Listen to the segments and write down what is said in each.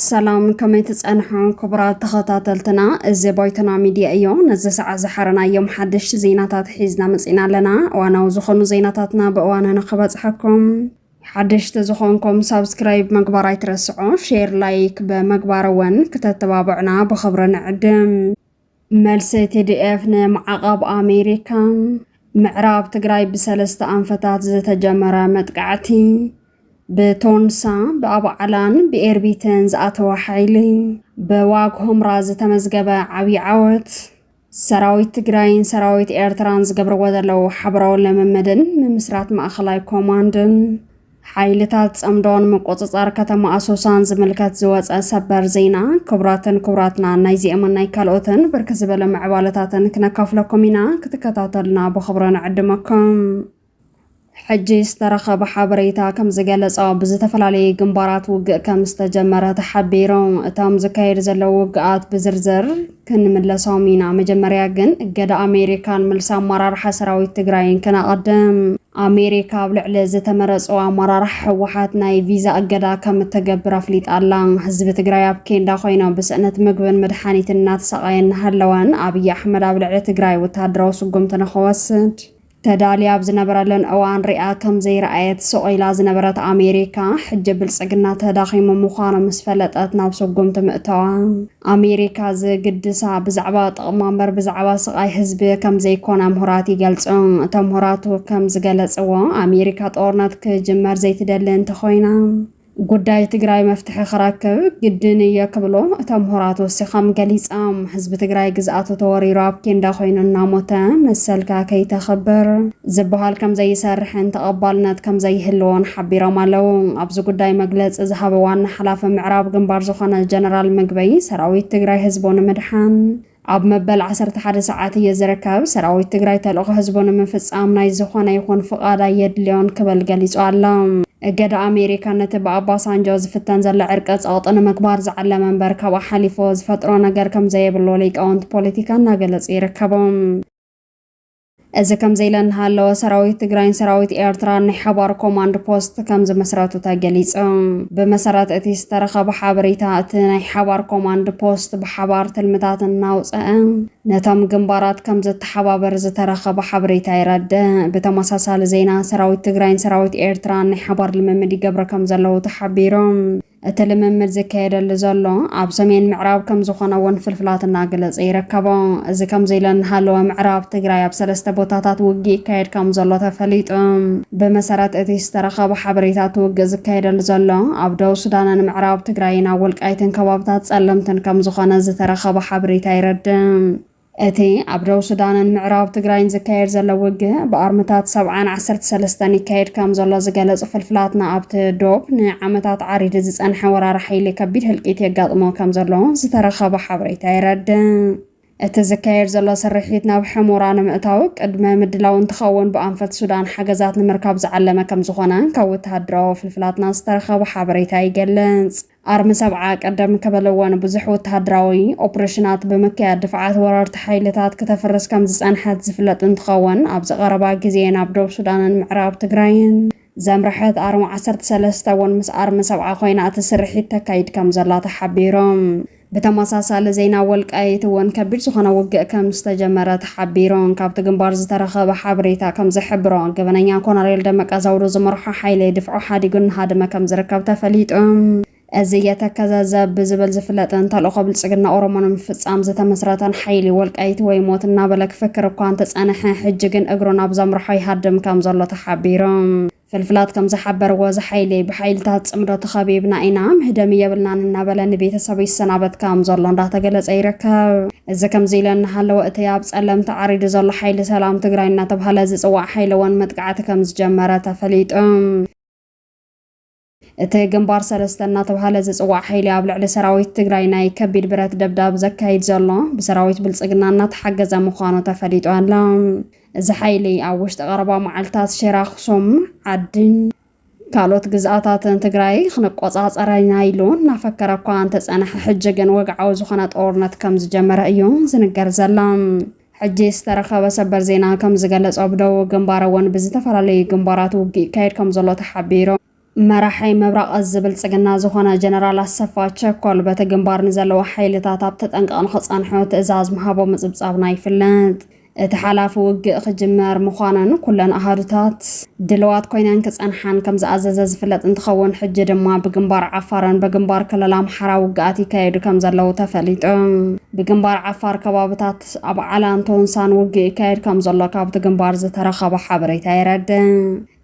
ሰላም ከመይ ትጸንሑ ክቡራት ተኸታተልትና፣ እዚ ባይቶና ሚድያ እዮ። ነዚ ሰዓት ዝሓረናዮም ሓደሽቲ ዜናታት ሒዝና መጺና ኣለና። እዋናዊ ዝኾኑ ዜናታትና ብእዋኑ ንክበጽሐኩም ሓደሽቲ ዝኾንኩም ሳብስክራይብ ምግባር ኣይትረስዑ፣ ሼር ላይክ ብምግባር እውን ክተተባብዑና ብኽብሪ ንዕድም። መልሲ ቲዲኤፍ ንማዕቐብ ኣሜሪካ። ምዕራብ ትግራይ ብሰለስተ ኣንፈታት ዝተጀመረ መጥቃዕቲ። ብቶንሳ፣ ብኣባዕላን ብኤርቢትን ዝኣተወ ሓይሊ። ብዋግ ሆምራ ዝተመዝገበ ዓብዪ ዓወት። ሰራዊት ትግራይን ሰራዊት ኤርትራን ዝገብርዎ ዘለዉ ሓበራዊ ልምምድን ምምስራት ማእኸላይ ኮማንድን ሓይልታት ጸምዶን ምቁጽጻር ከተማ ኣሶሳን ዝምልከት ዝወጸ ሰበር ዜና ክቡራትን ክቡራትና ናይዚኦምን ናይ ካልኦትን ብርክ ዝበለ ምዕባለታትን ክነካፍለኩም ኢና ክትከታተሉና ብኽብሮ ንዕድመኩም ሕጂ ዝተረኸበ ሓበሬታ ከም ዝገለጾ ብዝተፈላለየ ግንባራት ውግእ ከም ዝተጀመረ ተሓቢሩ። እቶም ዝካየዱ ዘለዉ ውግኣት ብዝርዝር ክንምለሶም ኢና፣ መጀመርያ ግን እገዳ ኣሜሪካን ምልሲ ኣመራርሓ ሰራዊት ትግራይን ክነቐድም። ኣሜሪካ ኣብ ልዕሊ ዝተመረጹ ኣመራርሓ ህወሓት ናይ ቪዛ እገዳ ከም እተገብር ኣፍሊጣ ኣላ። ህዝቢ ትግራይ ኣብ ኬንዳ ኮይኖ ብስእነት ምግብን መድሓኒትን እናተሰቓየ እናሃለወን ኣብይ ኣሕመድ ኣብ ልዕሊ ትግራይ ወተሃደራዊ ስጉምቲ ንኽወስድ ተዳልያ ኣብ ዝነበረለን እዋን ሪኣ ከም ዘይረኣየት ስቕ ኢላ ዝነበረት ኣሜሪካ፣ ሕጂ ብልጽግና ተዳኺሙ ምዃኑ ምስ ፈለጠት ናብ ስጉምቲ ምእታዋ፣ ኣሜሪካ ዝግድሳ ብዛዕባ ጥቕማ እምበር ብዛዕባ ስቓይ ህዝቢ ከም ዘይኮነ ምሁራት ይገልጹ። እቶም ምሁራቱ ከም ዝገለጽዎ፣ ኣሜሪካ ጦርነት ክጅመር ዘይትደሊ እንተኾይና፣ ጉዳይ ትግራይ መፍትሒ ክረክብ ግድን እየ ክብሎ እቶም ምሁራት ወሲኾም ገሊፆም። ህዝቢ ትግራይ ግዝኣቱ ተወሪሩ ኣብ ኬንዳ ኮይኑ እናሞተ መሰልካ ከይተኽብር ዝበሃል ከምዘይሰርሕን ተቐባልነት ከምዘይህልዎን ሓቢሮም ኣለው። ኣብዚ ጉዳይ መግለፂ ዝሃበ ዋና ሓላፊ ምዕራብ ግንባር ዝኾነ ጀነራል ምግበይ ሰራዊት ትግራይ ህዝቡ ንምድሓን ኣብ መበል ዓሰርተ ሓደ ሰዓት እየ ዝርከብ። ሰራዊት ትግራይ ተልእኾ ህዝቡ ንምፍፃም ናይ ዝኾነ ይኹን ፍቓድ ኣየድልዮን ክብል ገሊፁ ኣሎ። እገዳ ኣሜሪካ ነቲ ብኣባሳንጆ ዝፍተን ዘሎ ዕርቀ ፀቕጢ ንምግባር ዝዓለመ እምበር ካብኡ ሓሊፉ ዝፈጥሮ ነገር ከምዘየብሉ ሊቃውንቲ ፖለቲካ እናገለፁ ይርከቡ። እዚ ከምዚ ኢለ እናሃለወ ሰራዊት ትግራይን ሰራዊት ኤርትራን ናይ ሓባር ኮማንድ ፖስት ከም ዝመስረቱ ተገሊፁ። ብመሰረት እቲ ዝተረኸበ ሓበሬታ እቲ ናይ ሓባር ኮማንድ ፖስት ብሓባር ትልምታት እናውፀኣ ነቶም ግንባራት ከም ዘተሓባበር ዝተረኸበ ሓበሬታ የረድእ። ብተመሳሳሊ ዜና ሰራዊት ትግራይን ሰራዊት ኤርትራን ናይ ሓባር ልምምድ ይገብረ ከም ዘለዉ ተሓቢሩ። እቲ ልምምድ ዝካየደሉ ዘሎ ኣብ ሰሜን ምዕራብ ከም ዝኾነ እውን ፍልፍላት እናገለጸ ይርከቦ። እዚ ከምዚ ኢለ እናሃለወ ምዕራብ ትግራይ ኣብ ሰለስተ ቦታታት ውግእ ይካየድ ከም ዘሎ ተፈሊጡ። ብመሰረት እቲ ዝተረኸበ ሓበሬታ እቲ ውግእ ዝካየደሉ ዘሎ ኣብ ደቡብ ሱዳንን ምዕራብ ትግራይን ኣብ ወልቃይትን ከባብታት ጸለምትን ከም ዝኾነ ዝተረኸበ ሓበሬታ የረድእ። እቲ ኣብ ደቡብ ሱዳንን ምዕራብ ትግራይን ዝካየድ ዘሎ ውግእ ብኣርምታት ሰብዓን ዓሰርተ ሰለስተን ይካየድ ከም ዘሎ ዝገለጹ ፍልፍላትና ኣብቲ ዶብ ንዓመታት ዓሪዱ ዝጸንሐ ወራሪ ሓይሊ ከቢድ ህልቂት የጋጥሞ ከም ዘሎ ዝተረኸበ ሓበሬታ የረድእ። እቲ ዝካየድ ዘሎ ስርሒት ናብ ሕሞራ ንምእታው ቅድመ ምድላው እንትኸውን ብኣንፈት ሱዳን ሓገዛት ንምርካብ ዝዓለመ ከም ዝኾነ ካብ ወተሃደራዊ ፍልፍላትና ዝተረኸበ ሓበሬታ ይገልጽ። ኣርሚ ሰብዓ ቅድም ክብል'ውን ብዙሕ ወተሃደራዊ ኦፕሬሽናት ብምክያድ ድፍዓት ወረርቲ ሓይልታት ክተፍርስ ከምዝጸንሐት ዝፍለጥ እንትኸውን፣ ኣብዚ ቀረባ ግዜ ናብ ዶብ ሱዳንን ምዕራብ ትግራይን ዘምረሐት ኣርሚ ዓሰርተ ሰለስተ እውን ምስ ኣርሚ ሰብዓ ኮይና እቲ ስርሒት ተካይድ ከምዘላ ተሓቢሩ። ብተመሳሳሊ ዜና ወልቃይት እውን ከቢድ ዝኾነ ውግእ ከምዝተጀመረ ሓቢሩን። ካብቲ ግንባር ዝተረኸበ ሓበሬታ ከም ዝሕብሮ፣ ገበነኛ ኮነሬል ደመቀ ዘውዱ ዝመርሖ ሓይሊ ድፍዖ ሓዲጉ እናሃደመ ከም ዝርከብ ተፈሊጡ። እዚ የተከዘ ዘብ ብዝብል ዝፍለጥን ተልእኾ ብልጽግና ኦሮሞ ንምፍጻም ዝተመስረተን ሓይሊ፣ ወልቃይት ወይ ሞት እናበለ ክፍክር እኳ እንተጸንሐ፣ ሕጂ ግን እግሩ ናብ ዘምርሖ ይሃድም ከም ዘሎ ተሓቢሩ። ፍልፍላት ከም ዝሓበርዎ ዝሓይለይ ብሓይልታት ፅምዶ ተኸቢብና ኢና፣ ምህደሚ የብልናን እናበለ ንቤተሰቡ ይሰናበት ከም ዘሎ እንዳተገለፀ ይርከብ። እዚ ከምዚ ኢለ እናሃለወ እቲ ኣብ ፀለምቲ ዓሪዱ ዘሎ ሓይሊ ሰላም ትግራይ እናተብሃለ ዝፅዋዕ ሓይሊ እውን መጥቃዕቲ ከም ዝጀመረ ተፈሊጡ። እቲ ግንባር ሰለስተ እናተብሃለ ዝፅዋዕ ሓይሊ ኣብ ልዕሊ ሰራዊት ትግራይ ናይ ከቢድ ብረት ደብዳብ ዘካይድ ዘሎ ብሰራዊት ብልፅግና እናተሓገዘ ምዃኑ ተፈሊጡ ኣሎ። እዚ ሓይሊ ኣብ ውሽጢ ቀረባ መዓልታት ሽረ ኣኽሱም፣ ዓድን ካልኦት ግዝኣታትን ትግራይ ክንቆፃፀረ ኢና ኢሉ እናፈከረ እኳ እንተፀንሐ ሕጂ ግን ወግዓዊ ዝኾነ ጦርነት ከም ዝጀመረ እዩ ዝንገር ዘሎ። ሕጂ ዝተረኸበ ሰበር ዜና ከምዝገለፆ ብደቡብ ግንባር እውን ብዝተፈላለዩ ግንባራት ውግእ ይካየድ ከምዘሎ ተሓቢሩ። መራሒ ምብራቕ እዝ ብልፅግና ዝኾነ ጀነራል ኣሰፋ ቸኮል በቲ ግንባር ንዘለዉ ሓይልታት ኣብ ተጠንቀቕ ንኽፀንሑ ትእዛዝ ምሃቦ ምፅብፃብና ይፍለጥ። እቲ ሓላፊ ውግእ ክጅመር ምዃኑን ኩለን ኣሃዱታት ድልዋት ኮይነን ክጸንሓን ከም ዝኣዘዘ ዝፍለጥ እንትኸውን፣ ሕጂ ድማ ብግንባር ዓፋርን በግንባር ክልል ኣምሓራ ውግኣት ይካየዱ ከም ዘለዉ ተፈሊጡ። ብግንባር ዓፋር ከባብታት ኣብ ዓላን ቶንሳን ውግእ ይካየድ ከም ዘሎ ካብቲ ግንባር ዝተረኸበ ሓበሬታ የረድእ።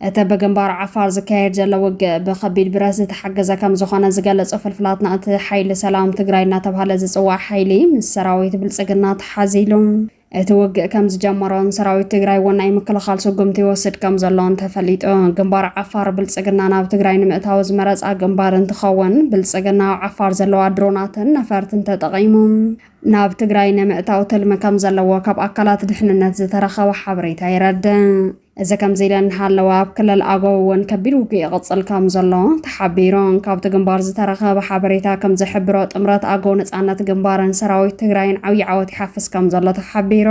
እቲ ብግንባር ዓፋር ዝካየድ ዘሎ ውግእ ብከቢድ ብረት ዝተሓገዘ ከም ዝኾነ ዝገለጹ ፍልፍላትና፣ እቲ ሓይሊ ሰላም ትግራይ እናተብሃለ ዝጽዋዕ ሓይሊ ምስ ሰራዊት ብልጽግና ተሓዚሉ፣ እቲ ውግእ ከም ዝጀመሮን ሰራዊት ትግራይ እውን ናይ ምክልኻል ስጉምቲ ይወስድ ከም ዘሎን ተፈሊጡ። ግንባር ዓፋር ብልጽግና ናብ ትግራይ ንምእታው ዝመረጻ ግንባር እንትኸውን፣ ብልጽግና ኣብ ዓፋር ዘለዋ ድሮናትን ነፈርትን ተጠቒሙ ናብ ትግራይ ንምእታው ትልሚ ከም ዘለዎ ካብ ኣካላት ድሕንነት ዝተረኸበ ሓበሬታ የረድእ። እዚ ከምዚ ኢለን እናሃለዋ ኣብ ክልል ኣገው እውን ከቢድ ውግእ ይቕፅል ከም ዘሎ ተሓቢሩ። ካብቲ ግንባር ዝተረኸበ ሓበሬታ ከም ዝሕብሮ ጥምረት ኣገው ነፃነት ግንባርን ሰራዊት ትግራይን ዓብዪ ዓወት ይሓፍስ ከም ዘሎ ተሓቢሩ።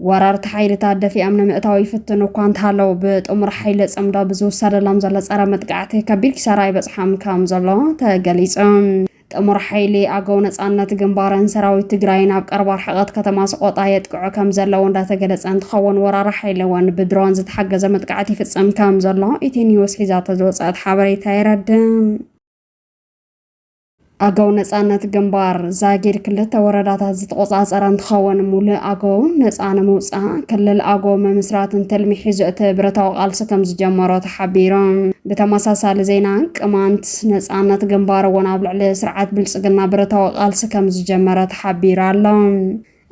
ወረርቲ ሓይልታት ደፊኦም ንምእታው ይፍትኑ እኳ እንተሃለዉ ብጥሙር ሓይሊ ፅምዶ ብዝውሰደሎም ዘሎ ፀረ መጥቃዕቲ ከቢድ ኪሳራ ይበፅሖም ከም ዘሎ ተገሊፁ። ጥሙር ሓይሊ ኣገው ነፃነት ግንባርን ሰራዊት ትግራይን ኣብ ቀረባ ርሕቐት ከተማ ሰቖጣ የጥቅዑ ከም ዘለዉ እንዳተገለፀ እንትኸውን ወራሪ ሓይሊ እውን ብድሮን ዝተሓገዘ መጥቃዕቲ ይፍፅም ከም ዘሎ ኢቲ ኒውስ ሒዛቶ ዝወፀአት ሓበሬታ የረድእ። ኣገው ነፃነት ግንባር ዛጊድ ክልተ ወረዳታት ዝተቆፃፀረ እንትኸውን ሙሉእ ኣገው ነፃ ንምውፃእ ክልል ኣገው ምምስራትን ትልሚ ሒዙ እቲ ብረታዊ ቃልሲ ከም ዝጀመሮ ሓቢሮም። ብተመሳሳሊ ዜና ቅማንት ነፃነት ግንባር እውን ኣብ ልዕሊ ስርዓት ብልፅግና ብረታዊ ቃልሲ ከምዝጀመረ ተሓቢሩ ኣሎ።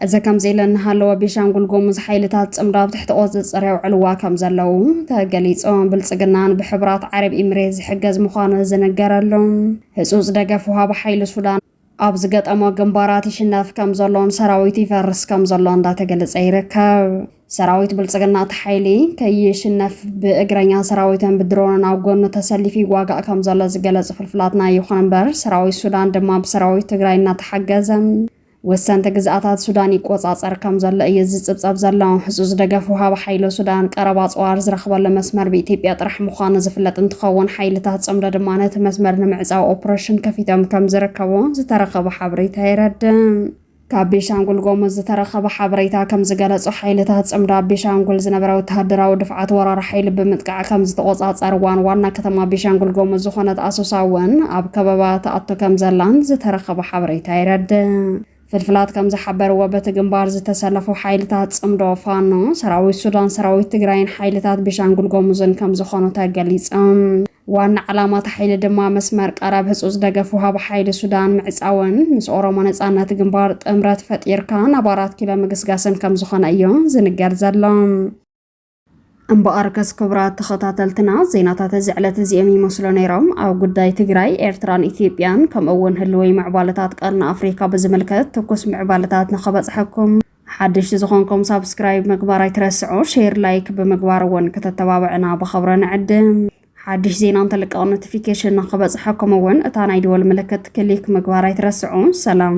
እዚ ከምዚ ኢለ እናሃለወ ቤሻንጉል ጉሙዝ ሓይልታት ፅምዶ ኣብ ትሕቲ ቁፅፅር የውዕልዋ ከምዘለዉ ተገሊፁ። ብልፅግናን ብሕቡራት ዓረብ ኢምሬት ዝሕገዝ ምዃኑ ዝንገረሉ ህፁፅ ደገፍ ወሃቢ ሓይሊ ሱዳን ኣብ ዝገጠሞ ግንባራት ይሽነፍ ከም ዘሎን ሰራዊት ይፈርስ ከም ዘሎ እንዳተገለጸ ይርከብ። ሰራዊት ብልጽግና እቲ ሓይሊ ከይሽነፍ ብእግረኛ ሰራዊትን ብድሮንን ኣብ ጎኑ ተሰሊፉ ይዋጋእ ከም ዘሎ ዝገለጹ ፍልፍላትና ይኹን እምበር ሰራዊት ሱዳን ድማ ብሰራዊት ትግራይ እናተሓገዘ ወሰንቲ ግዝኣታት ሱዳን ይቆጻጸር ከም ዘሎ እዩ ዝጽብጸብ ዘሎ። ህጹጽ ደገፍ ወሃቢ ሓይሎ ሱዳን ቀረባ ኣጽዋር ዝረኽበሉ መስመር ብኢትዮጵያ ጥራሕ ምዃኑ ዝፍለጥ እንትኸውን ሓይልታት ጽምዶ ድማ ነቲ መስመር ንምዕፃው ኦፕሬሽን ከፊቶም ከም ዝርከቡ ዝተረኸበ ሓበሬታ የረድእ። ካብ ቤሻንጉል ጎሙዝ ዝተረኸበ ሓበሬታ ከም ዝገለጾ ሓይልታት ጽምዶ ኣብ ቤሻንጉል ዝነበረ ወተሃደራዊ ድፍዓት ወራሪ ሓይሊ ብምጥቃዕ ከም ዝተቖጻጸርዋን ዋና ከተማ ቤሻንጉል ጎሙዝ ዝኾነት ኣሶሳ እውን ኣብ ከበባ ተኣቶ ከም ዘላን ዝተረኸበ ሓበሬታ የረድእ። ፍልፍላት ከምዝሓበርዎ በቲ ግንባር ዝተሰለፉ ሓይልታት ፅምዶ ፋኖ፣ ሰራዊት ሱዳን፣ ሰራዊት ትግራይን ሓይልታት ቤሻንጉል ጎሙዝን ከምዝኾኑ ተገሊፆም። ዋና ዕላማ እቲ ሓይሊ ድማ መስመር ቀረብ ህፁፅ ደገፍ ውሃቢ ሓይሊ ሱዳን ምዕፃውን ምስ ኦሮሞ ነፃነት ግንባር ጥምረት ፈጢርካ ናብ ኣራት ኪሎ ምግስጋስን ከምዝኾነ እዩ ዝንገር ዘሎ። እምበኣርከስ ክቡራት ተኸታተልትና ዜናታት እዚ ዕለት እዚኦም ይመስሉ ነይሮም። ኣብ ጉዳይ ትግራይ፣ ኤርትራን ኢትዮጵያን ከምኡ እውን ህልወይ ምዕባለታት ቀርኒ ኣፍሪካ ብዝምልከት ትኩስ ምዕባለታት ንኸበፅሐኩም ሓደሽቲ ዝኾንኩም ሳብስክራይብ ምግባር ኣይትረስዑ፣ ሼር ላይክ ብምግባር እውን ከተተባብዕና ብኸብረ ንዕድም። ሓድሽ ዜና እንተልቀቕ ኖቲፊኬሽን ንክበፅሐኩም እውን እታ ናይ ደወል ምልክት ክሊክ ምግባር ኣይትረስዑ። ሰላም